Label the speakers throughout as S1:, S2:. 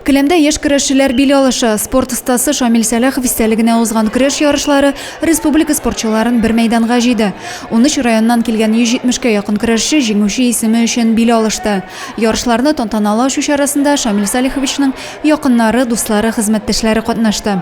S1: Келәмдә яшь көрәшчеләр бил алыша. Спорт остасы Шамил Сәләхов истәлегенә узган көрәш ярышлары республика спортчыларын бер мәйданга җыйды. 13 районнан килгән 170 кә якын көрәшче җиңүче исеме өчен бил алышты. Ярышларны тантаналы ачу чарасында Шамил Салиховичның якыннары, дуслары, хезмәттәшләре катнашты.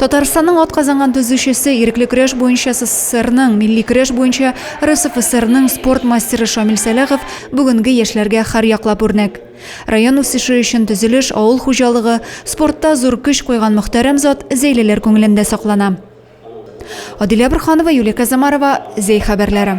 S1: Татарстанның атказанган төзүчесе, ирекле көрәш буенча СССРның, милли көрәш буенча РСФСРның спорт мастеры Шамил Сәлахов бүгенге яшьләргә һәрьяклап үрнәк. Район үсеше өчен төзелеш, авыл хуҗалыгы, спортта зур көч куйган мөхтәрәм зат Зәйлеләр күңелендә саклана. Адилә Борханова, Юлия Казамарова, Зәй хәбәрләре.